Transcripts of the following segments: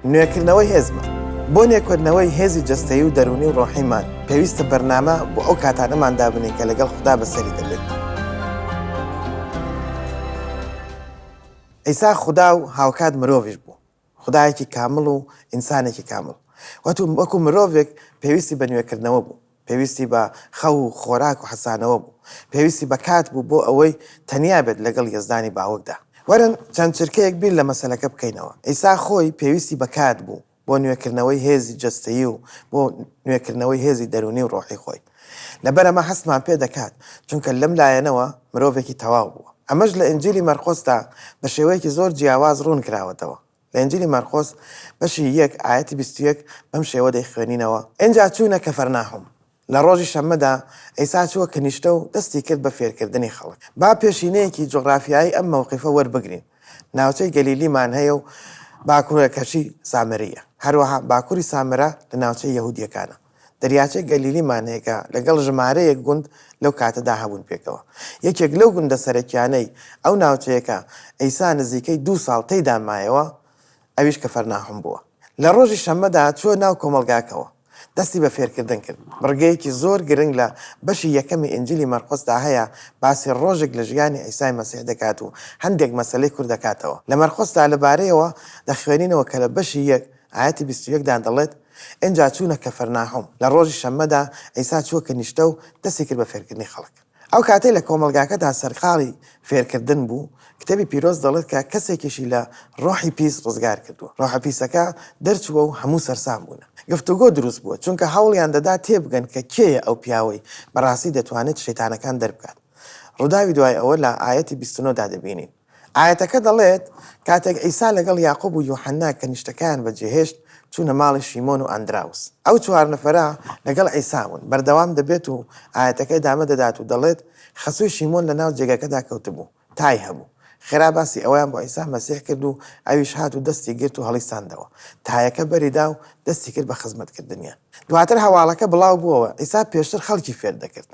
نوێکردنەوەی هێزمان، بۆ نوێکردنەوەی هێزی جەستەیی و دەروونی و ڕۆحیمان، پێویستە بەرنامە بۆ ئەو کاتانەمان دابنێین کە لەگەڵ خودا بەسەری دەبەین. عیسا خودا و هاوکات مرۆڤیش بوو، خودایەکی کامڵ و ئینسانێکی کامڵ، وەکو مرۆڤێک پێویستی بە نوێکردنەوە بوو. پێویستی بە خەو و خۆراک و حەسانەوە بوو. پێویستی بە کات بوو بۆ ئەوەی تەنیا بێت لەگەڵ یەزدانی باوکدا. وەرن چەند چرکەیەک بیر لە مەسەلەکە بکەینەوە. عیسا خۆی پێویستی بە کات بوو بۆ نوێکردنەوەی هێزی جەستەیی و بۆ نوێکردنەوەی هێزی دەروونی و ڕۆحی خۆی. لەبەر ئەمە هەستمان پێ دەکات، چونکە لەم لایەنەوە مرۆڤێکی تەواو بووە. ئەمەش لە ئینجیلی مەرقۆسدا بە شێوەیەکی زۆر جیاواز ڕوون کراوەتەوە. لە ئینجیلی مەرقۆس بەشی یەک ئایەتی بیست و یەک بەم شێوە دەیخوێنینەوە، ئینجا چوونە کەفەرناحوم. لە ڕۆژی شەممەدا عیسا چووە کنیشتە و دەستی کرد بە فێرکردنی خەڵک. با پێشینەیەکی جوغرافیایی ئەم مەوقیفە وەربگرین، ناوچەی گەلیلیمان هەیە و باکوورەکەشی سامرییە، هەروەها باکووری سامرا لە ناوچەی یەهوودییەکانە. دەریاچەی گەلیلی مانێگا لەگەڵ ژمارەیەک گوند لەو کاتەدا هەبوون پێکەوە. یەکێک لەو گوندە سەرەکیانەی ئەو ناوچەیە کە عیسا نزیکەی دوو ساڵ تێیدا مایەوە ئەویش کەفەرناحوم بووە. لە ڕۆژی شەممەدا چووە ناو کۆمەڵگاکەوە دەستی بە فێرکردن کرد. بڕگەیەکی زۆر گرنگ لە بەشی یەکەمی ئینجیلی مەرقۆسدا هەیە باسی ڕۆژێک لە ژیانی عیسای مەسیح دەکات و هەندێک مەسەلەی کورت دەکاتەوە لە مەرقۆسدا لەبارەیەوە دەخوێنینەوە کە لە بەشی یەک ئایەتی بیست و یەک دا دەڵێت، ئینجا چوونە کەفەرناحوم، لە ڕۆژی شەممەدا عیسا چووە کنیشتە و دەستی کرد بە فێرکردنی خەڵک. ئەو کاتەی لە کۆمەڵگاکەدا سەرقاڵی فێرکردن بوو، کتێبی پیرۆز دەڵێت کە کەسێکیشی لە ڕۆحی پیس ڕزگار کردووە. ڕۆحە پیسەکە دەرچووە و هەموو سەرسام بوونە. گفتوگۆ دروست بووە، چونکە هەوڵیان دەدا تێبگەن کە کێیە ئەو پیاوەی بەڕاستی دەتوانێت شەیتانەکان دەربکات. ڕووداوی دوای ئەوە لە ئایەتی بیست و نۆ دا دەبینین. ئایەتەکە دەڵێت، کاتێک عیسا لەگەڵ یاقوب و یوحەنا کەنیشتەکەیان بەجێهێشت، چوونە ماڵی شیمۆن و ئەندراوس. ئەو چوار نەفەرە لەگەڵ عیسا بوون. بەردەوام دەبێت و ئایەتەکە ئیدامە دەدات و دەڵێت، خەسووی شیمۆن لەناو جێگەکەدا کەوتبوو، تای هەبوو. خێرا باسی ئەویان بۆ عیسا مەسیح کرد و ئەویش هات و دەستی گرت و هەڵیساندەوە. تایەکە بەری دا و دەستی کرد بە خزمەتکردنیان. دواتر هەواڵەکە بڵاو بووەوە، عیسا پێشتر خەڵکی فێر دەکرد.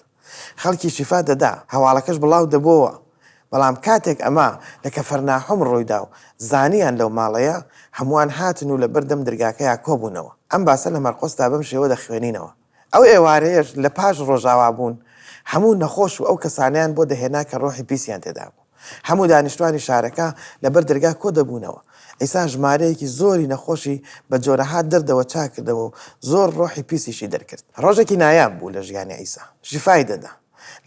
خەڵکی شیفا دەدا، هەواڵەکەش بڵاو دەبۆوە، بەڵام کاتێک ئەمە لە کەفەرناحوم ڕوویدا و زانیان لەو ماڵەیە، هەمووان هاتن و لەبەر دەم درگاکەیا کۆبوونەوە. ئەم باسە لە مەرقۆسدا بەم شێوە دەخوێنینەوە، ئەو ئێوارەیەش لە پاش ڕۆژاوابوون، هەموو نەخۆش و ئەو کەسانەیان بۆ دەهێنا کە ڕۆحی پیسیان تێدابوو. هەموو دانیشتوانی شارەکە لەبەر دەرگا کۆ دەبوونەوە. عیسا ژمارەیەکی زۆری نەخۆشی بە جۆرەها دەردەوە چاک کردەوە و زۆر ڕۆحی پیسیشی دەرکرد. ڕۆژێکی نایاب بوو لە ژیانی عیسا. شیفای دەدا.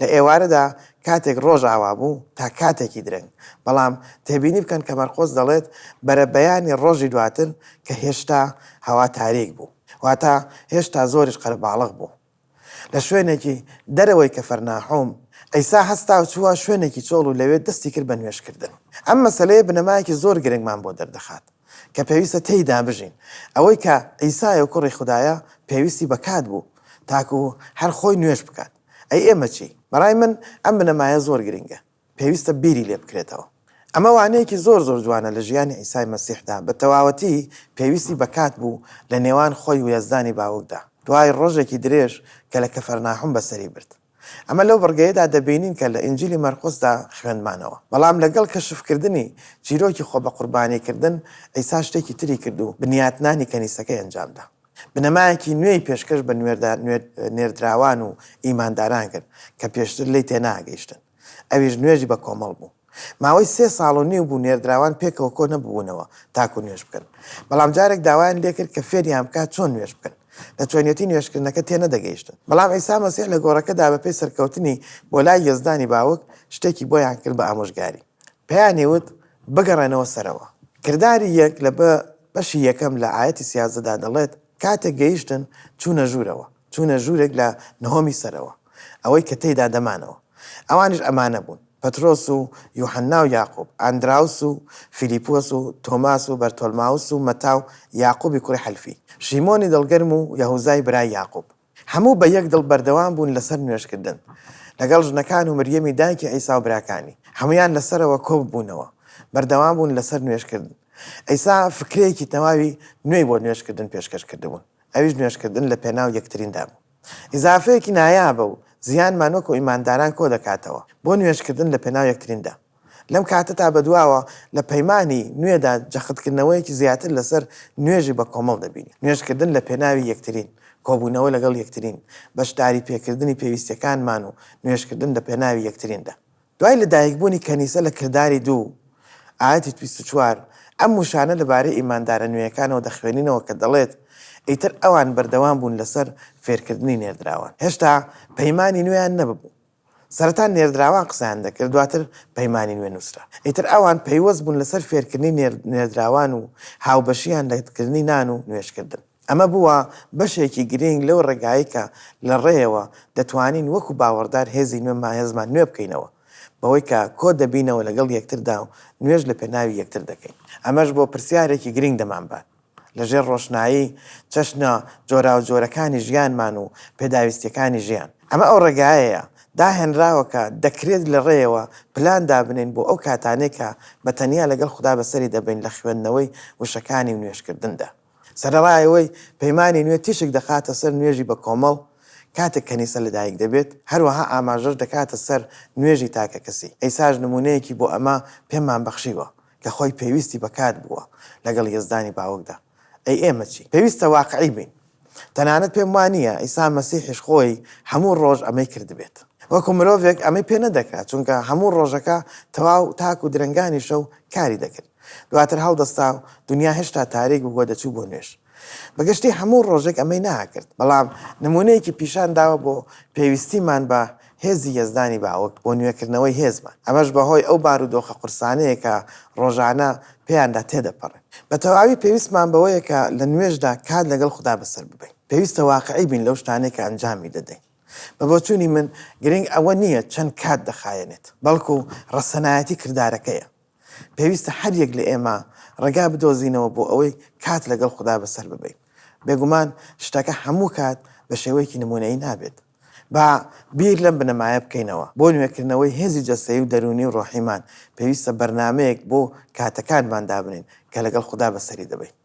لە ئێوارەدا کاتێک ڕۆژ ئاوا بوو تا کاتێکی درەنگ. بەڵام تێبینی بکەن کە مەرقۆس دەڵێت بەرەبەیانی ڕۆژی دواتر کە هێشتا هەوا تاریک بوو. واتە هێشتا زۆریش قەرەباڵغ بوو. لە شوێنێکی دەرەوەی کەفەرناحوم، عیسا هەستا و چووە شوێنێکی چۆڵ و لەوێ دەستی کرد بە نوێژکردن. ئەم مەسەلەیە بنەمایەکی زۆر گرنگمان بۆ دەردەخات کە پێویستە تێیدا بژین. ئەوەی کە عیسایە و کوڕی خودایە، پێویستی بە کات بوو تاکوو هەر خۆی نوێژ بکات. ئەی ئێمە چی؟ بەڕای من ئەم بنەمایە زۆر گرنگە. پێویستە بیری لێ بکرێتەوە. ئەمە وانەیەکی زۆر زۆر جوانە لە ژیانی عیسای مەسیحدا، بە تەواوەتی پێویستی بە کات بوو لە نێوان خۆی و یەزدانی باوکدا، دوای ڕۆژێکی درێژ کە لە کەفەرناحوم بەسەری برد. ئەمە لەو بڕگەیەدا دەبینین کە لە ئینجیلی مەرقوسدا خوێندمانەوە. بەڵام لەگەڵ کەشفکردنی چیرۆکی خۆبەقوربانیکردن، عیسا شتێکی تری کرد و بنیاتنانی کەنیسەکەی ئەنجامدا. بنەمایەکی نوێی پێشکەش بە نێردراوان و ئیمانداران کرد کە پێشتر لێی تێناگەیشتن، ئەویش نوێژی بە کۆمەڵ بوو. ماوەی سێ ساڵ و نیو بوو نێردراوان پێکەوە کۆ نەببوونەوە تاکو نوێژ بکەن، بەڵام جارێک داوایان لێکرد کە فێریان بکات چۆن نوێژ بکەن، لە چۆنیەتی نوێژکردنەکە تێنەدەگەیشتن. بەڵام عیسا مەسیح لە گۆڕەکەدا بەپێی سەرکەوتنی بۆ لای یەزدانی باوک، شتێکی بۆیان کرد بە ئامۆژگاری. پێیانی وت، بگەڕێنەوە سەرەوە. کرداری یەک لە. بەشی یەکەم لە ئایەتی سیازدەدا دەڵێت، کاتێک گەیشتن چوونە ژوورەوە، چوونە ژوورێک لە نهۆمی سەرەوە، ئەوەی کە تێیدا دەمانەوە. ئەوانیش ئەمانە بوون، پەترۆس و یوحەننا و یاقوب، ئاندراوس و فیلیپۆس و تۆماس و بەرتۆلماوس و مەتا و یاقوبی کوڕی حەلفی، شیمۆنی دڵگەرم و یەهوزای برای یاقوب. هەموو بە یەک دڵ بەردەوام بوون لەسەر نوێژکردن لەگەڵ ژنەکان و مریەمی دایکی عیسا و براکانی، هەموویان لەسەرەوە کۆببوونەوە، بەردەوام بوون لەسەر نوێژکردن. عیسا فکرەیەکی تەواوی نوێی بۆ نوێژکردن پێشکەش کردبوون، ئەویش نوێژکردن لەپێناو یەکتریندا بوو. ئیزافەیەکی نایابە و زیانمان وەکو ئیمانداران کۆدەکاتەوە بۆ نوێژکردن لەپێناو یەکتریندا. لەم کاتەتا بەدواوە لە پەیمانی نوێدا جەختکردنەوەیەکی زیاتر لەسەر نوێژی بەکۆمەڵ دەبینین. نوێژکردن لە پێناوی یەکترین، کۆبوونەوە لەگەڵ یەکترین، بەشداریپێکردنی پێویستیەکانمان و نوێژکردن لە پێناوی یەکتریندا. دوای لەدایکبوونی کەنیسە لە کرداری دوو، ئایەتی بیست و چوار، ئەم وشانە لەبارەی ئیماندارە نوێیەکانەوە دەخوێنینەوە کە دەڵێت، ئیتر ئەوان بەردەوام بوون لەسەر فێرکردنی نێردراوان. هێشتا پەیمانی نوێیان نەببوو. سەرەتا نێردراوان قسەیان دەکرد دواتر پەیمانی نوێ نووسرا. ئیتر ئەوان پەیوەست بوون لەسەر فێرکردنی نێردراوان و هاوبەشییان لە کردنی نان و نوێژکردن. ئەمە بووە بەشێکی گرینگ لەو ڕێگایەی کە لە ڕێیەوە دەتوانین وەکو باوەڕدار هێزی نوێمان هێزمان نوێ بکەینەوە بەوەی کە کۆ دەبینەوە لەگەڵ یەکتردا و نوێژ لە پێناوی یەکتر دەکەین. ئەمەش بۆ پرسیارێکی گرینگ دەمانبات. لەژێر ڕۆشنایی چەشنە جۆراوجۆرەکانی ژیانمان و پێداویستییەکانی ژیان. ئەمە ئەو ڕێگایەیە داهێنراوە کە دەکرێت لە ڕێیەوە پلان دابنێین بۆ ئەو کاتانەی کە بە تەنیا لەگەڵ خودا بەسەری دەبەین لە خوێندنەوەی وشەکانی و نوێژکردندا. سەرەڕای ئەوەی پەیمانی نوێ تیشک دەخاتە سەر نوێژی بە کۆمەڵ کاتێک کەنیسە لەدایک دەبێت، هەروەها ئاماژەش دەکاتە سەر نوێژی تاکەکەسی. عیساش نموونەیەکی بۆ ئەمە پێمان بەخشیوە. لە خۆی پێویستی بە کات بووە لەگەڵ یەزدانی باوکدا. ئەی ئێمە چی؟ پێویستە واقعی بین. تەنانەت پێم وا نییە عیسا مەسیحیش خۆی هەموو ڕۆژ ئەمەی کردبێت. وەکو مرۆڤێک ئەمەی پێ نەدەکرا، چونکە هەموو ڕۆژەکە تەواو تاکو درەنگانی شەو کاری دەکرد. دواتر هەڵدەستا و دونیا هێشتا تاریک بوو و دەچوو بۆ نوێژ. بەگشتی هەموو ڕۆژێک ئەمەی ناکرد، بەڵام نموونەیەکی پیشان داوە بۆ پێویستیمان بە هێزی یەزدانی باوک بۆ نوێکردنەوەی هێزمان، ئەمەش بەهۆی ئەو بارودۆخە قورسانەیە کە ڕۆژانە پێیاندا تێدەپەڕێین. بە تەواوی پێویستمان بەوەیە کە لە نوێژدا کات لەگەڵ خودا بەسەر ببەین. پێویستە واقعی بین لەو شتانەی کە ئەنجامی دەدەین. بە بۆچوونی من گرنگ ئەوە نییە چەند کات دەخایەنێت، بەڵکو ڕەسەنایەتی کردارەکەیە. پێویستە هەریەک لە ئێمە ڕێگا بدۆزینەوە بۆ ئەوەی کات لەگەڵ خودا بەسەر ببەین. بێگومان شتەکە هەموو کات بە شێوەیەکی نموونەیی نابێت. با بیر لەم بنەمایە بکەینەوە، بۆ نوێکردنەوەی هێزی جەستەیی و دەروونی و ڕۆحیمان، پێویستە بەرنامەیەک بۆ کاتەکانمان دابنێین کە لەگەڵ خودا بەسەری دەبەین.